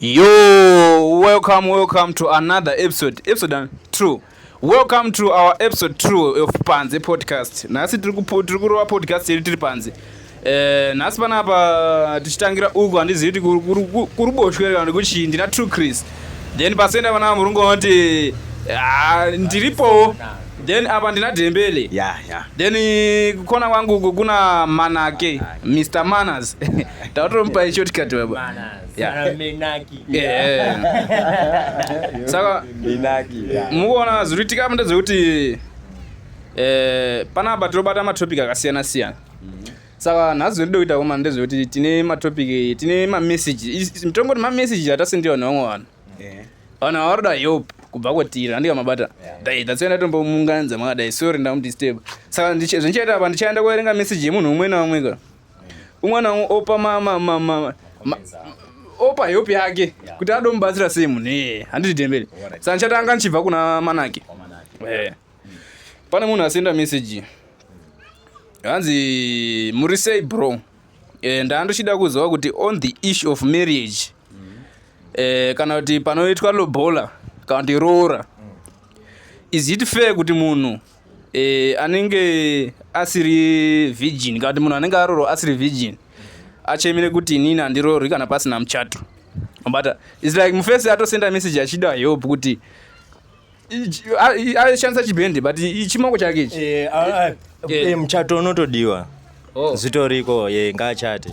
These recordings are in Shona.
Yo, welcome, welcome to another episode. Episode uh, two. Welcome to our episode two of Panze podcast. Nhasi tiri kurova podcast yedu tiri panze. Eh, nhasi panapa tichitangira uku handizivi kuti kuruboshwe kana kuti ndina true Chris. Then pasenda vana murungu vanoti ah, ndiripowo. Then apa ndina Dembele. Yeah, yeah. Then eh, kukona kwangu kuna Manake, Mr. Manners. Tatomupa shortcut baba. Manners. saka mukuona zviri kuitika apo ndezvekuti eh, panapa tinobata matopic akasiyana siyana mhm. saka nhasi zvinotida kuita koma ndezvekuti tine matopic tine mameseji mitongo kuti mameseji atasendiwa nevamwe vanhu vanhu avaroda yope kubva kwatiri andika mabata dai that's why ndatombomunganidza makadai sorry ndamudisturb saka zvendichaita apa ndichaenda kuerenga message yemunhu umwe naumwe ka umwana wangu opa mama mama opa help yake kuti adomubatsira sei munhu ee handiti dembele saka ndichatanga ndichibva kuna manake eh. pane munhu asenda message hanzi muri sei bro eh, ndandochida kuziva kuti on the issue of marriage eh, kana kuti panoitwa lobola kana kuti roora is it fair kuti munhu mm. e, anenge asiri virgin kana kuti munhu anenge arorwa asiri virgin achemere kuti inini handirorwi kana pasina muchato mabata its like mufesi atosenda message achida help kuti aishandisa chibhende but chimoko chake ichi eh, eh, eh, muchato unotodiwa oh. zvitoriko ye ngaachate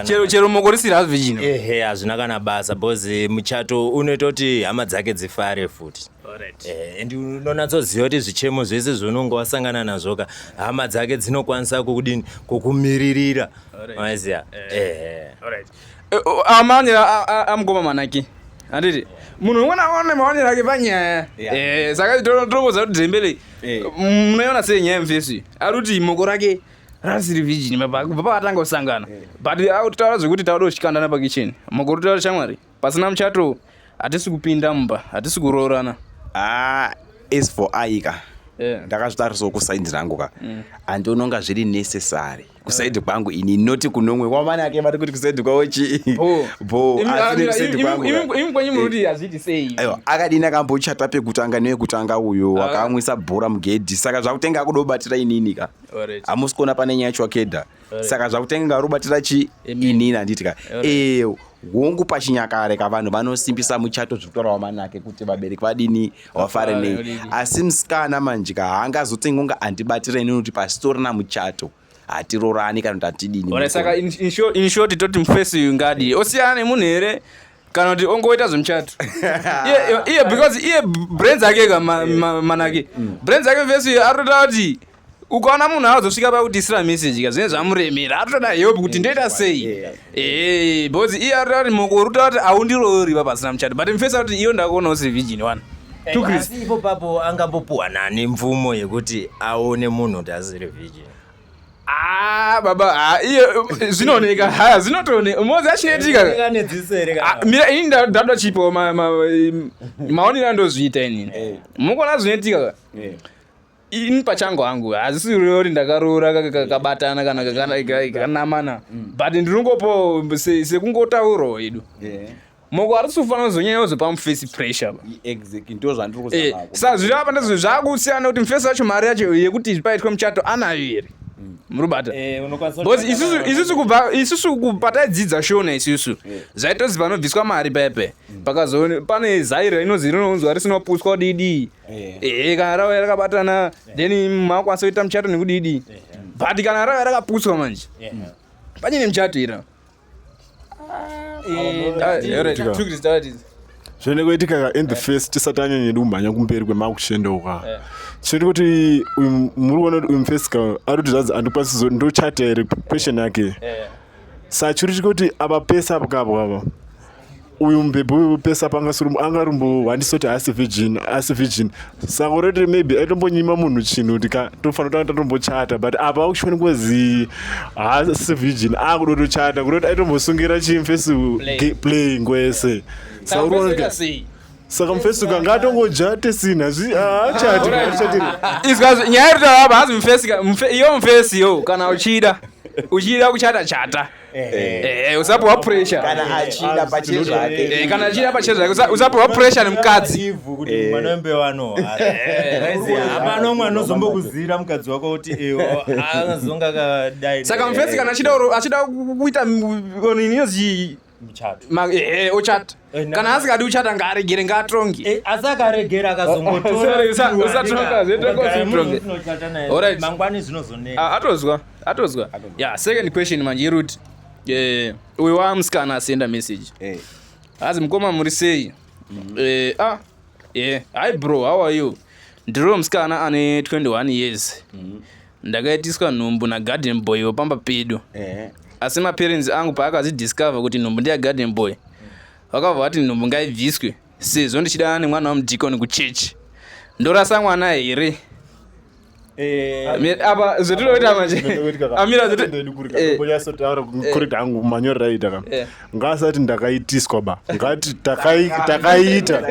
chero chero moko risiri hazvi chino ehe hazvina kana basa because muchato unoita kuti hama dzake dzifare futi eh, and unonatsoziva kuti zvichemo zvese zvaunonge wasangana nazvo ka hama dzake dzinokwanisa kukudini kukumiririra maiziva eh. eh, amaonero amugoma manake handiti munhu umwe naone maonero ake panyaya saka tinokoza kuti dzembele munoiona sei nyaya yemfesi ari kuti moko rake asiri virgin baba vakatanga kusangana eh. but taura zvekuti tauda kuchikandana pakicheni makore taura shamwari pasina muchato hatisi kupinda mumba hatisi kuroorana ah, as for aika eh. ndakazvitarisawo kusaidi rangu ka mm. andiononga zviri necessary kusaidi eh. kwangu ini noti kunomwe kwamani ake vari kuti kusaidi kwavo chii akadini akambochata pekutanga newekutanga uyo ah. akamwisa bhora mugedhi saka zvakutenga akudobatira inini ka hamusi kuona pane nyaya chwakedha saka zvakutenge ngarubatira chi inini handiti ka ee hongu pachinyakare ka vanhu vanosimbisa muchato zvekutaurawa manake kuti vabereki vadini vafare nei asi musikana manje ka haangazotengi kunge andibatira inini kuti pasitorina muchato hatirorani kana kuti hatidini saka inshoti toti mufesi uyu ngadi osiyana nemunhu here kana kuti ongoita zvemuchato iye because iye brains ake ka manake mm. brains ake vese arikutotaura kuti ukaona munhu aazosvika pakudisira message ka zvinenge zvamuremera atotoda help kuti ndoita sei ee because iye arikutoa kuti moko uri kutaura kuti aundiroori pa pasina muchato but mfesa kuti iyo ndakuona usiri virgin wani ipo papo angambopuwa nani mvumo yekuti aone munhu kuti asiri virgin Ah, baba ah, iye zvinooneka haya zvinotooneka umodzi achinoitika ah, mira ini ndada chipo maonero andozviita inini eh. mukuona zvinoitika eh. ini pachango hangu hazisi rori ndakaroora kakabatana kana kakanamana mm. but ndinongopo sekungotaurawo yedu eh. moko arisi kufanira kuzonyanya kuzopa mufesi pressure eh, sa zviri apa ndizvo zvakusiyana kuti mufesi wacho mari yacho yekuti paitwe muchato anayo here mm. murubata eh, bcause isusu kubva isusu kupataidzidza shona isusu eh. zvaitozi panobviswa mari pepe mm. pakazo pane zaira inozi rinonzwa risinopuswa kudidii ehe kana rauya rakabatana then makwanisa kuita muchato nekudidii but kana rauya rakaputswa manje panyine muchato ira zvinoenda kuitika in the face tisati anyanyedi kumhanya kumberi kwemakushenda uka eh. chinoita kuti muri kuona kuti uyu mufesika ari kuti zvanzi andikwanisi ndochata here question yake eh. sachiri chikuti ava pese apokapokapa uyu mubhebhi wepesa panga anga rumbo wandisoti haasi virgin haasi virgin sako rete maybe aitombonyima munhu chinhu kuti ka tofanira tanga tatombochata but apa akushoni kwazi haasi virgin akuda tochata kutoti aitombosungira chii mufesi playing kwese saka mufesi uka ngatongoja tesina haachatinyaya yatotava apa hazi mufesi iyo mufesi yo kana uchida uchida kuchata chata usapiwa pressure kana achida pache zvake kana achida pache zvake usapiwa pressure nemukadzi ivhu kuti mwana wembe wano hapana mwana uzombokuzira mukadzi wako kuti iwo anozonga kadai saka mufesi kana achida achida kuita oniniyozi muchato ochata kana asingadi uchata ngaaregere ngaatongi eh, asi akaregera akazogotoramangwani zvinozonea ah, atozwa atozwa ya second question manje iruti eh, uyo wamusikana asenda message eh. azi mukoma muri sei mm. ah, hi bro how are you ndiriwo musikana ane 21 years mm-hmm. ndakaitiswa nhumbu nagarden boy wepamba pedu eh. asi maparents angu paakazidiscover kuti nhumbu ndeyagarden boy vakabva vati nhumbu ngaibviswe sezvo ndichidana nemwana wamudikoni kuchechi ndorasa mwana here Eh, apa zvetinoita manje amira zvetukurita eh. hangu manyorera aita ka eh. ngaasati ndakaitiswa ba ngati takaiita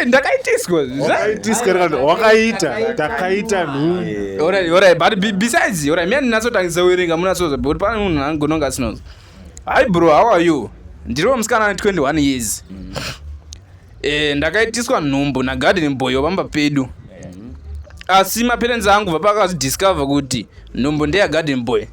ndakaitiswawakaita takaita nhumbusides ndinatsotangiza kuverenga munatsoza but pane munhu angononga asinoza hi bro how are you ndiriwo musikana ne 21 years mm. Eh, ndakaitiswa nhumbu nagarden boy wapamba pedu asi maperenzi angu vapakazidiscover kuti nhumbu ndeyagarden boy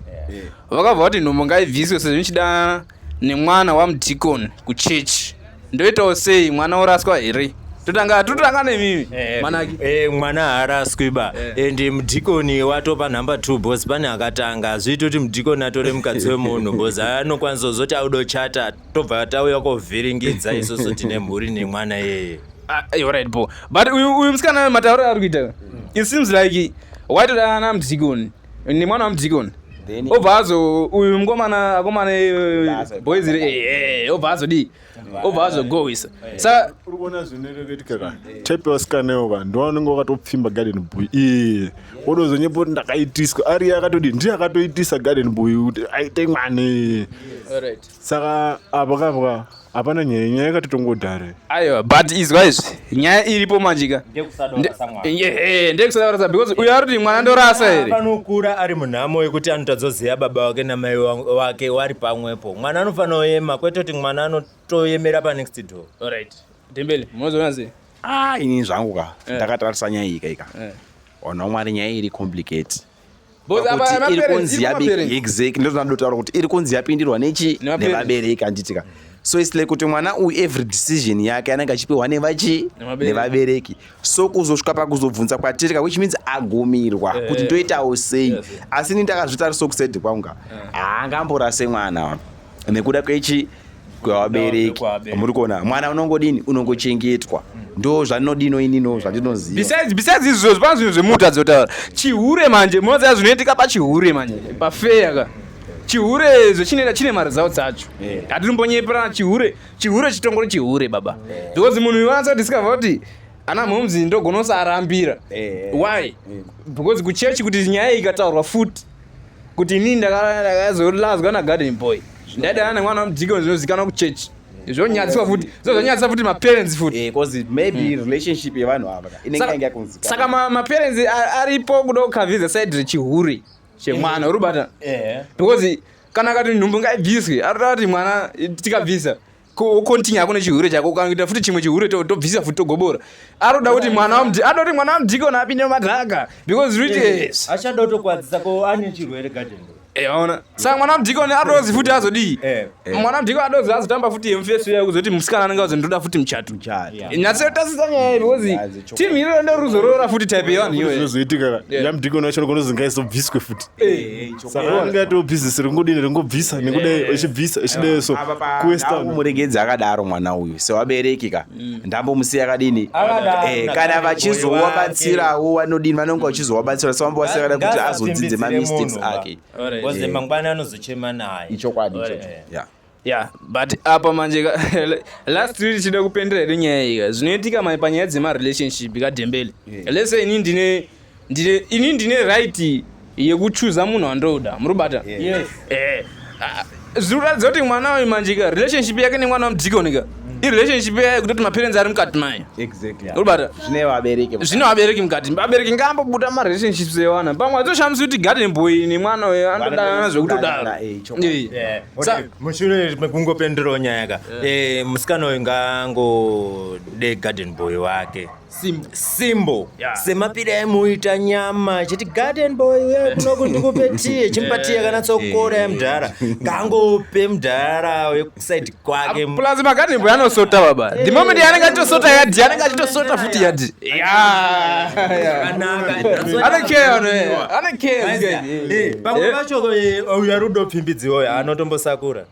vakabva vati nhumbu ngaibviswe sezvo ndichida nemwana wamudicon kuchechi ndoitawo sei mwana oraswa here totanga totanga nemimi Eh, manaki eh, mwana haaraswi ba Eh. and mudhikoni watopa number two bos pane akatanga hazviiti kuti mudhikoni atore mukadzi wemunhu bos anokwanisa kuzoti auda kuchata tobva tauya kovhiringidza isusu tine mhuri nemwana yeye Ah, eh, alright bo but uyu uyu musikana matauriro ari kuita it seems like waitodanana namdikoni nemwana wamdikoni Then- obva azo uyu mukomana akomana Azo- boys iri eh, eh, obva azodii obva azogohwisa saka uri kuona zvinoreketika ka type yavasikanewo ka ndiwa unenge wakatopfimba garden boy iye wodozonyepa kuti ndakaitiswa ariye akatodi ndiye akatoitisa garden boy kuti aite mwana iye alright saka apa kapwa hapana nyaya nyaya yakatotongodare aiwa but izwa izvi nyaya iripo manjika ndekusadavara because uyo aroti mwana ndorasa here anokura ari munhamo yekuti anotazoziva baba wake namai wake wari pamwepo mwana anofanira kuyema kwete kuti mwana anotoyemera panext door orit dembele munozoona sei ah ini zvangu ka eh. ndakatarisa nyaya ika ika eh. ona mwari nyaya iri complicate kuti iri kunzi yabereki exactly ndozvinoda kutaura kuti iri kunzi yapindirwa nechi nevabereki handitika so its like kuti mwana uyu every decision yake anenge achipiwa nevachi nevabereki so kuzosvika pakuzobvunza kwatirika which means agumirwa eh. kuti ndoitawo sei asi ini ndakazvitarisa kusedi kwangu ka eh. haangamborase mwana wa nekuda kwechi kwevabereki muri kuona mwana unongodini unongochengetwa ndo zvandinodino inino zvandinozivabisaidz izvozvo zvipana zvinhu zvemuta dzotaura chihure manje munoziva zvinoitika pachihure manje pafeya ka chihure zvechinoita chine mari dzawo dzacho hatirimbonyeperana chihure chihure chitongori chihure baba because munhu iwanatsa discover kuti ana mhoms ndogonosarambira why because kuchechi kuti nyaya ikataurwa futi kuti inini ndakazolazwa nagarden boy ndaidana nemwana wemudikon zvinozikanwa kuchechi zvonyadziswa futi zvonyadzisa futi maparents futi eh, because maybe hmm. relationship yevanhu ava inenge yanga yakunzika saka maparents aripo kuda kukavhiza side rechihure chemwana eh. uri bata eh. because kana akati nhumbu ngaibviswe arikuta kuti mwana tikabvisa kontinya hako nechihure chako ukaita futi chimwe chihure tobvisa futi togobora anoda kuti mwana wamdi anoda kuti mwana wamdikona apinde madhaka because rich yes achada kutokwadzisa ko ane chirwere garden eona eh, saka mwana wamdikoni adozi futi azodii eh, eh. mwana wamdikoni adozi azotamba futi yemufesi uya kuzoti musikana anenge azozi ndoda futi muchato nyatsotasisa nyaya iyi because timu iriro ndoruzorora futi type yevanhu iyoyo zvozoitika yamdikoni wacho nogona zingaisobviswe futi saka ringati obhizinesi ringudini ringobvisa nekuda eh, ichibvisa ichidei so kuwestmuregedzi akadaro mwana uyu sewabereki ka mm. ndambomusiya akadini eh, kana vachizowabatsirawo vanodini vanonge vachizowabatsira so vamba vasiya kada kuti azodzidze mamistakes ake mangwana anozochema naye ichokwadi ichocho Yeah, but apa manje last week chida kupendera hedu nyaya iyi zvinoitika manje panyaya dzema relationship kadembele yeah. let's say ini ndine ndine ini ndine right yekuchuza munhu wandoda muri kubata yes. eh, ah, zviri kuratidza kuti mwana uyu manjika relationship yake nemwana wamudhikonika irelationship yayo kutoti maparents ari mukati mayo uribata zvine vabereki mukati vabereki ngaambobuda marelationships ewana pamwe atoshamisa kuti garden boy nemwana uyo anotodanana zvekutodaro mushure mekungopendurawo nyaya ka eh, musikana uyu ngaangodei garden boy wake Simbo. Simbo. Yeah. Semapira emuita nyama. Chiti garden boy uya kuno kuti kupe tea. Chimpa tea kana tsokora ya mdara. Kangope mdara we side kwake. Plus ma garden boy anosota baba. The moment yanenge atosota yadi, yanenge atosota futi yadi. Yeah. Ana care ono. Ana care. Eh, pamwe pacho uya rudo pfimbidziwo anotombosakura.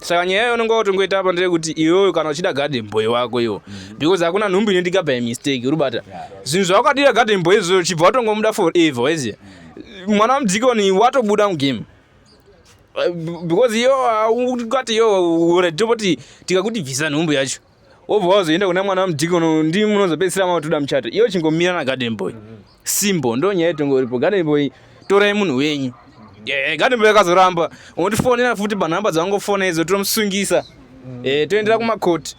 saka nyaya yayo unenge watongoita apa ndeyekuti iwewe kana uchida garden boy wako iwo mm. because hakuna nhumbu inoitika by mistake uribata zvinhu zvawakadira garden boy izvo chibva watongomuda for ever waiziya mm. mwana wamudhikoni watobuda mugame uh, because iyo ukati iyo uretopoti tikakuti bvisa nhumbu yacho wobva wazoenda kuna mwana wamudiki uno ndi munozopedzisira mavatoda muchato iyo chingomira na garden boy simbo ndo nyaya itongoripo garden boy torai munhu wenyu eh, garden boy akazoramba unondifonera futi panhamba dzavangofona idzo tomusungisa eh, toendera kumakoti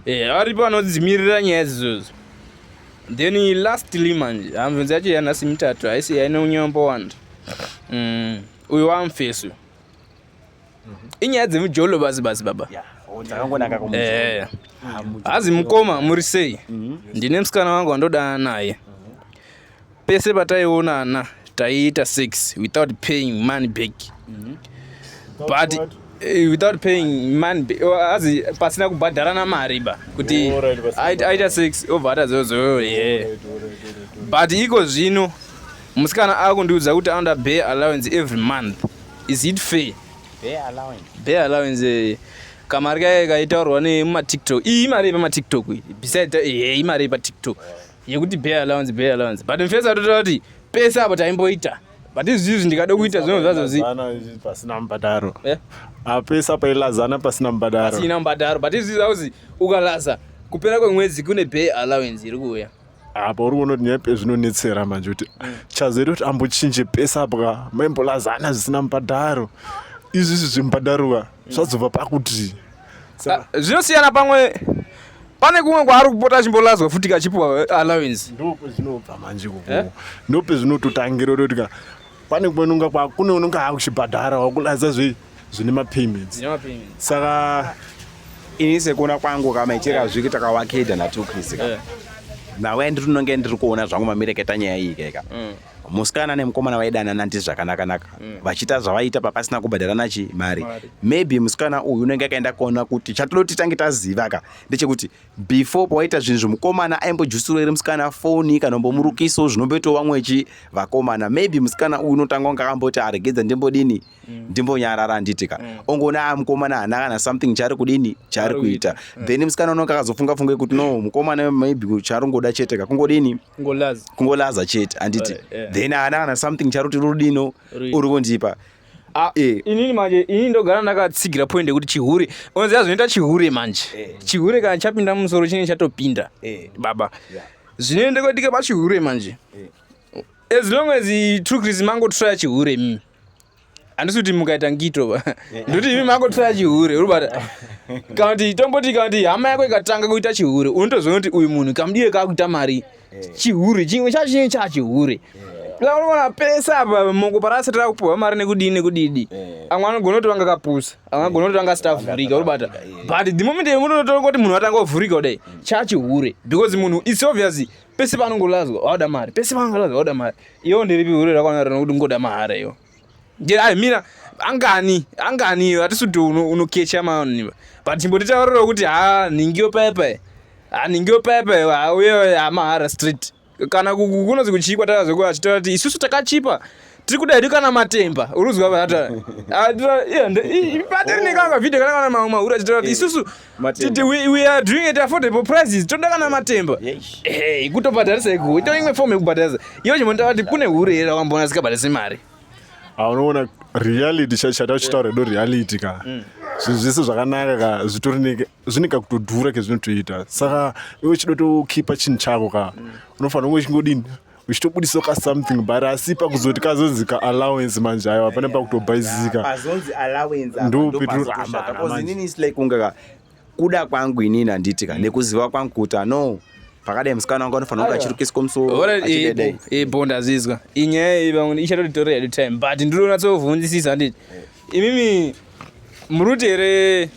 eh, aripo anodzimirira nyaya dzizodzo then lastly manje hamvunzi yacho yanhasi mitatu haisi yaine unyombo wanda mm, uyu wamfesu inyaya dzemujolo basi basi baba eh. hazi mukoma muri sei mhm. ndine musikana wangu wandoda naye pese pataionana taiita sex without paying money back mhm. but what? Eh, without paying man azi pasina kubhadharana mari ba kuti aita six obvata zozoyo ye but iko zvino musikana akundiudza kuti anoda bay allowance every month is it fair bare allowance bare allowance eh, kamari kaye kaitaurwa nemumatiktok iyi imari yepamattiktok iyi besides eh, eh, imari yepatiktok yekuti bare allowance bare allowance but mfesi atotaura kuti pese apo taimboita but izvi izvi ndikada kuita zvinhu zvazo zi pasina mubhadharo eh? apesa pailazana pasina mubhadharo pasina mubhadharo but izvi zvauzi ukalaza kupera kwemwedzi kune bay allowance iri kuuya apa uri kuona kuti nyaya zvinonetsera manje kuti chazoita kuti ambochinje pese apo ka maimbolazana zvisina mubhadharo izvizvi zvemubhadharo ka zvazobva pakuti ah, zvinosiyana pamwe pane kumwe kwaari kupota achimbolazwa futi kachipiwa eh, allowance ndopezvinobva manje kuko eh? ndopezvinototangira kuti ka pane kumwe nonga kune unonga akuchibhadhara wakulaza zvei zvine mapayments saka ini sekuona kwangu kama icheka zviki takawakeda natukrizi ka eh. nawe ndiri ndinonge ndiri kuona zvangu mamireketa nyaya iyi keka mm. musikana nemukomana vaidanana ndi zvakanakanaka mm. vachiita zvavaiita papasina kubhadharana chi mari maybe musikana uyu unenge akaenda kuona kuti chatodoti tange taziva ka ndechekuti before pawaita zvinhu zvomukomana aimbojusurwa iri musikana foni kana mbomurukiso zvinomboitawo vamwe chi vakomana maybe musikana uyu unotanga kunge akamboti aregedza ndimbodini ah, mm. ndimbonyarara handiti ka mm. ongoona a mukomana hana kana something chaari kudini chaari kuita mm. then musikana unonge akazofunga funga yekuti no mukomana maybe chaari kungoda chete ka kungodini kungolaza chete handiti eh, eh. then hana kana something chaari kuti rudino uri kundipa Ah, eh. inini manje inini ndogara ndakatsigira point yekuti chihure onziva zvinoita chihure manje eh. chihure kana chapinda mumusoro chinenge chatopinda eh. baba zvinoenda kwetika pachihure manje as long as true chris mangotraya chihure mimi handisi kuti mukaita ngito va ndokuti imi makotora chihure uri bata kana kuti tomboti kana kuti hama yako ikatanga kuita chihure unotozoona kuti uyu munhu kamudire kakuita mari chihure chimwe chacho chinenge chachihure unoona pese apa moko parasati rakupuhwa mari nekudii nekudidi amwe anogona kuti vanga kapusa amwe agona kuti vanga sitavhurika uri bata but the moment munotoona kuti munhu atanga kuvhurika kudai chachihure because munhu its obvious pese paanongolazwa waoda mari pese paanongolazwa waoda mari iwo ndiripi hure rakwana rino kuti ngoda mahara iwo ai mira angani angani hatisi kuti unokecha maoniva but chimbotitaroreo kuti ha nhingiyo paye paye ha nhingiyo paye paye hauye hamahara street kana kunozi kuchiikwa tara zvekuti achitaura kuti isusu takachipa taka tiri kuda hedu kana matemba uruzwa vaata patiri nekanga vhidhiyo kana kana mamwe mahura chitaura kuti isusu titi we are doing it affordable prices toda kana matemba eh, kutobhadharisa ikuwo ito imwe fomu yekubhadharisa iyo chimbotaura kuti kune hure here rawamboona zikabhadharisa mari ah, unoona reality chachata uchitaura edo reality ka mm. zvinhu zvese zvakanaka ka zvitori zvine kakutodhura kezvinotoita saka iwe chidotokhipa chinhu chako ka mm. unofanira kunge chingodini uchitobudisa ka something but asi pakuzoti kazonzi ka allowance manje ayo hapana pakutobhaizika pazonzi allowance ndopeturamaaininislikeungaka kuda kwangu inini handiti ka nekuziva kwangu kuti ano pakadai musikana wangu anofanira kunge achirukiswa musoobho ndazizwa inyaya iyi vamwe ichatoditora hedu time but ndiri kunatsovhunzisisa handiti imimi muruti here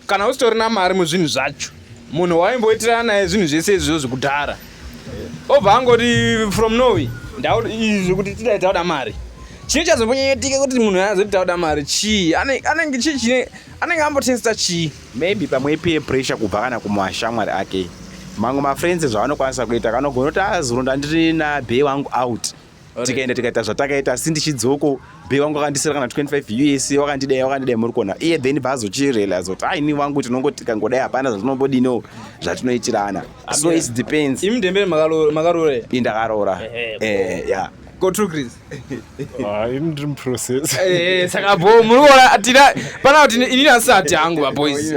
kana usitorina mari muzvinhu zvacho munhu waimboitirana naye zvinhu zvese izvizvo zvekudhara obva angoti from norway izvi kuti tidai tauda mari chii chazomboitika kuti munhu azoti tauda mari chii anenge chii chine anenge ambotesta chii maybe pamwe ipeer pressure kubva kana kumashamwari ake mamwe mafriends zvavanokwanisa kuita kanogona kuti azuro ah, ndandirina be wangu out tikaenda tikaita zvatakaita asi ndichidzoko be wangu akandisira kana 25 us wakandidai wakandidai muri kuona iye then baazochirealize kuti a ini wangu tinongo tikangodai hapana zvatinombodino zvatinoitirana so it depends imi ndembere makaroora i ndakaroora eh, ya go true chris ah, ini ndiri muprocess eh, saka bo muri kuona tina pana kuti ini asati hangu vaboys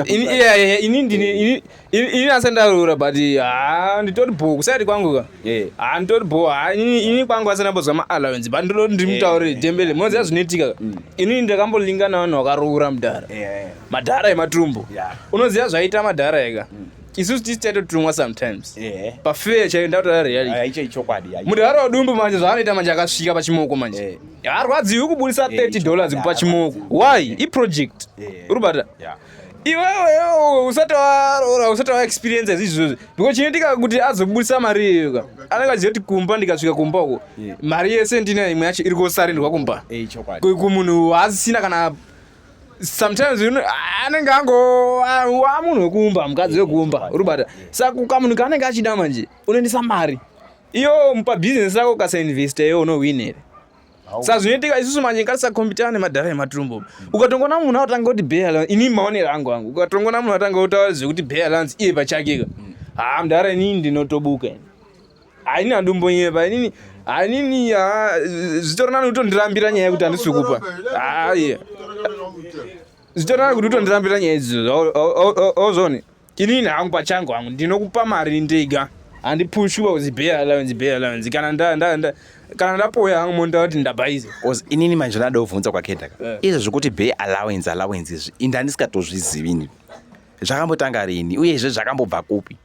ini ndini ini nase ndaroora but haa nditori bho kusaidi kwangu ka eh. haa nditori bho haa ini kwangu asina mbozwa maallowance but ndinoti ndimutaurire eh. dembele munoziva mm. zvinoitika mm. ini ndakambolinga navanhu vakaroora mudhara eh, madhara ematumbo unoziva zvaiita madhara eka mm. isusu tisi taitotumwa sometimes pafeya chaiyo ndakutora realitymudaaro ah, wadumbu manje zvaanoita manje akasvika pachimoko manje harwadziwi kubudisa 30 dollars kupa chimoko why iproject uribata iwewe iwewe usati waroora usati wa experience izvi zvozvi because chinoitika kuti azobudisa mari iyoka anenge aziva kuti kumba ndikasvika kumba uko mari yese ndina imwe yacho iri kusarindirwa kumba eh, kumunhu waasisina kana sometimes anenge ango amunhu wekumba mukadzi wekumba uri bata saka kamunhu kaanenge achida manje unoendesa mari iyo mupa business rako ukasainvesta iyo unowin here sa zvinoitika isusu manje ngatisakombitana nemadhara ematumbo ukatongoona munhu atanga kuti bay allowance ini maonero angu angu ukatongoona munhu atanga kutaura zvekuti bay allowance iye pachake ka mm. haa mdhara inini ndinotobuka haini handimbonyepa inini hanini zvitoronani kutondirambira nyaya yekuti handisi kupa haa zvitoronani kuti utondirambira nyaya idzo ozone inini hangu pachangu hangu ndinokupa mari ndega handipushwi pakuzi bay allowance bay allowance kana nda, nda, nda, kana ndapoya hangu monda kuti ndabhaiza Cause inini manje ndada kuvhunza kwakenda ka Eh. izvo zvekuti bay allowance allowance izvi ini handisikatozvizivi ini zvakambotanga rini uyezve zvakambobva kupi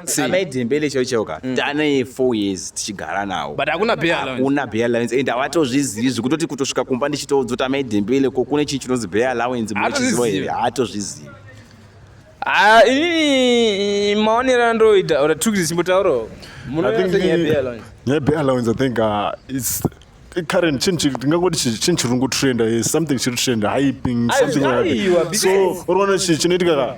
Sei? amai dembele chaiwo chaiwo ka tane four years tichigara nawo but hakuna bay allowance hakuna bay allowance and hawatozvizivi zvekutoti kutosvika kumba ndichitoudzoti amai dembele ko kune chinhu chinonzi bay allowance munochiziva here Haatozvizivi. haatozvizivi Ah, ini maonero andoita or took this mutauro. I think the nyepe allowance I think uh, it's current chinhu chiri tingangoti chinhu chiri ngotrenda yes something chiri trenda hyping something like so unoona chi chinoitika ka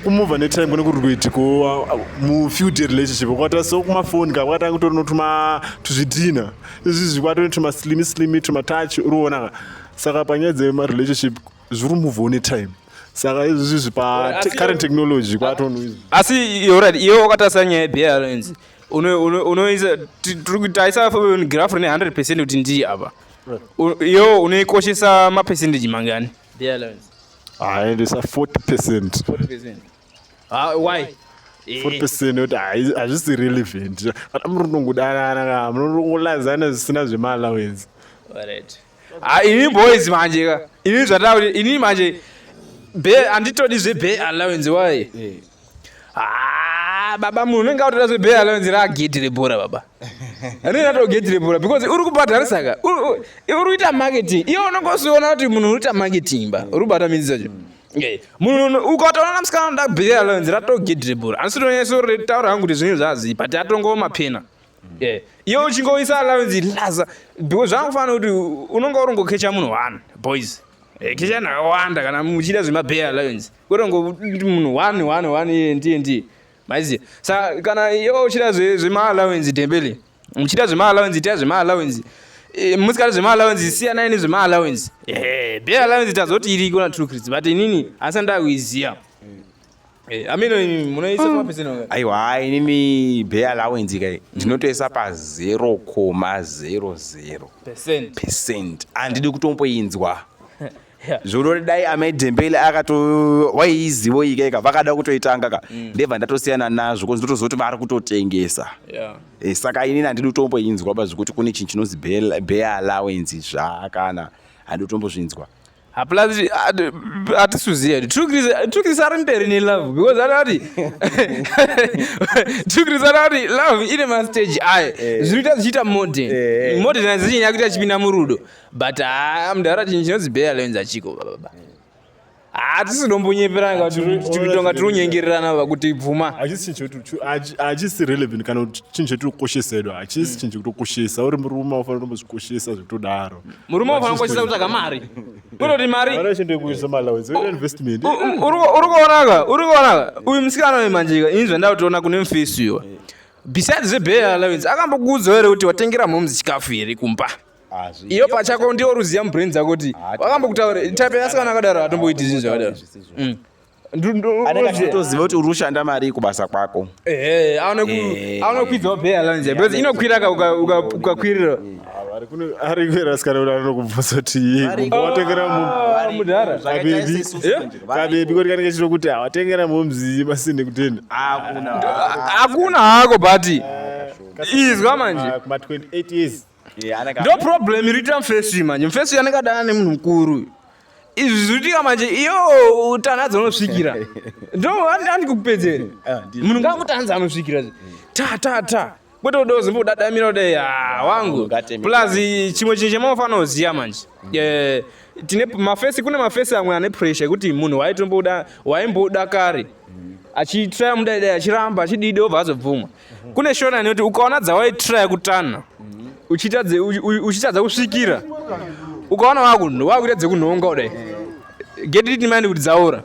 kumova netime kune kuri kuitiko mufew day relationship kwata so kumafoni ka kwatanga kutori notuma tuzvidhina izvizvi kwatone tumaslimi slimi tumatouch uriona ka saka panyaya dzemarelationship zviri move one time saka izvi izvi pa te- current technology kwatonhu izvi asi yorat iwe wakatarisa nyaya yebearance unoisa ti- tiri kuti taisa graph rine 100 percent kuti ndiye apa U- iwe unoikoshesa mapercentage mangani bearance aendesa 40 percent 40 percent ah, why 40 percent yoti hai- hazvisi relevant kana muri kunongodanana ka munongolazana zvisina zvemaallowance Alright. Ah, ini boys manje ka ini zvatauri ini manje be anditodi zvebe allowance why eh. ah, baba munhu unenge autoda zvebe allowance ragedhi rebhora baba rinenge ato gedhi rebhora because uri kubhadharisa ka uri kuita marketing iwe unenge usiona kuti munhu uri kuita marketing ba uri kubata midzi dzacho mm. eh, munhu ukatoona musikana unoda bebe allowance rato gedhi rebhora andisi tonyesori taura hangu kuti zvinhu zvazi but atongooma pena Yeah. Iwe uchingoisa allowance laza because zvakufanira kuti unonga urongokecha munhu one boys. Eh, kecha nakawanda kana muchida zvemabay allowance. Kurongo munhu one one one iye ndiye ndiye. Maizi. Sa kana iwe uchida zve zvema allowance dembele. Muchida zvema allowance ita zvema allowance. E, eh, musikati zvema allowance siyanai nezvema allowance. Eh, bay allowance tazoti iriko na true crits but inini asanda kuiziya. Eh, mm. aiwa inini bay allowance kai ndinotoisa pa 0,00 percent handidi kutomboinzwa zvorori dai amai dhembele akato waiizivo ika ika vakada kutoitanga ka mm. ndebva ndatosiyana nazvo kozi ndotozoti vari kutotengesa yeah. e, saka inini handidi kutomboinzwa pa zvekuti kune chinhu chinonzi bay allowance zvakana handidi kutombozvinzwa hapana atisuziva kuti trukirisa ari mberi nelove because anati trukirisa anati love ine mastage ayo eh. zvinoita zvichiita modern eh, eh. modern azichinyaya kuti achipinda murudo but haa ah, mudhara chinhu chinonzi bea lens achiko bababa hatisi dombonyeperana kutonga tiri kunyengererana va kuti bvuma hachisi relevant kana chinhu chetiri kukoshesa edu hachisi chinhu chekutokoshesa uri murume ufanira kutombozvikoshesa zvekutodaro murume unofanira kukoshesa kutsvaga mari kunoti mari uri kuonaka uri kuonaka uyu musikana uyu manjika ini zvandaa kutiona kune mufesi uyo besides zvebail allowance akambokuudza here kuti watengera mhoms chikafu here kumba ah, iyo pachako ndiwo ruziva mubrain dzako kuti wakambokutaura type yasikana akadaro atomboiti zvinhu zvakadaro anenge achitoziva kuti uri kushanda mari kubasa kwako eh, anokwidzawo pay allowance because inokwira ukakwirira ari kuera sikana kuti anokubvunza kuti watengera ah, mudhara kabebi eh? koti kanenge chito kuti hawatengera momzi masinde kutenda hakuna hako but izwa manje ma 28 years ndo problem iriita mfesi uyu manje mfesi uyu anenge adana nemunhu mukuru uyu izvi zviitika manje iyo utana dzonosvikira ndo andandi kukupedzere ah, munhu ngakutanza anosvikira zve ta ta ta kwete uda uzimba udadamira ude ah, wangu plus chimwe chinhu chemaufanira kuziva manje mm. eh, tine mafesi kune mafesi amwe ane pressure yekuti munhu waitombouda waimboda kare mm. achitraya mudaidai achiramba achididi obva azobvumwa kune shona inoti ukaona dzawaitiraya kutana uchitadza kusvikira ukaona wakuita dzekunhonga kudai get it mind kuti dzaora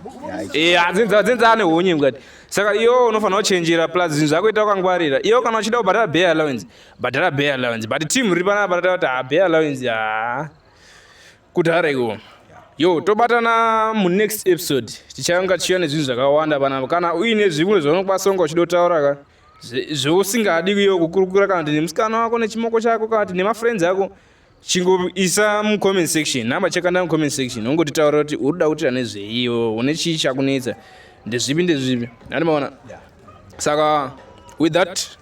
eh, dzinza ane honye mukati saka iyo unofanira kuchenjera plus zvinhu zvakuita wakangwarira iyo kana uchida kubhadhara bay allowance bhadhara bay allowance but team riri panapa rataura kuti ha ah, bay allowance haa kudhara iwo yo tobatana munext episode tichanga chiya nezvinhu zvakawanda panapa kana uine zvimwe zvaunokwanisa kunge uchida kutaura ka zvousingadi kuyo kukurukura kana kuti nemusikana wako nechimoko chako kana kuti nemafriends ako chingoisa mucomment section namba chekanda mucomment section ungotitaura kuti uri kuda kutira nezveiwo une chii chakunetsa ndezvipi ndezvipi andi maona saka with that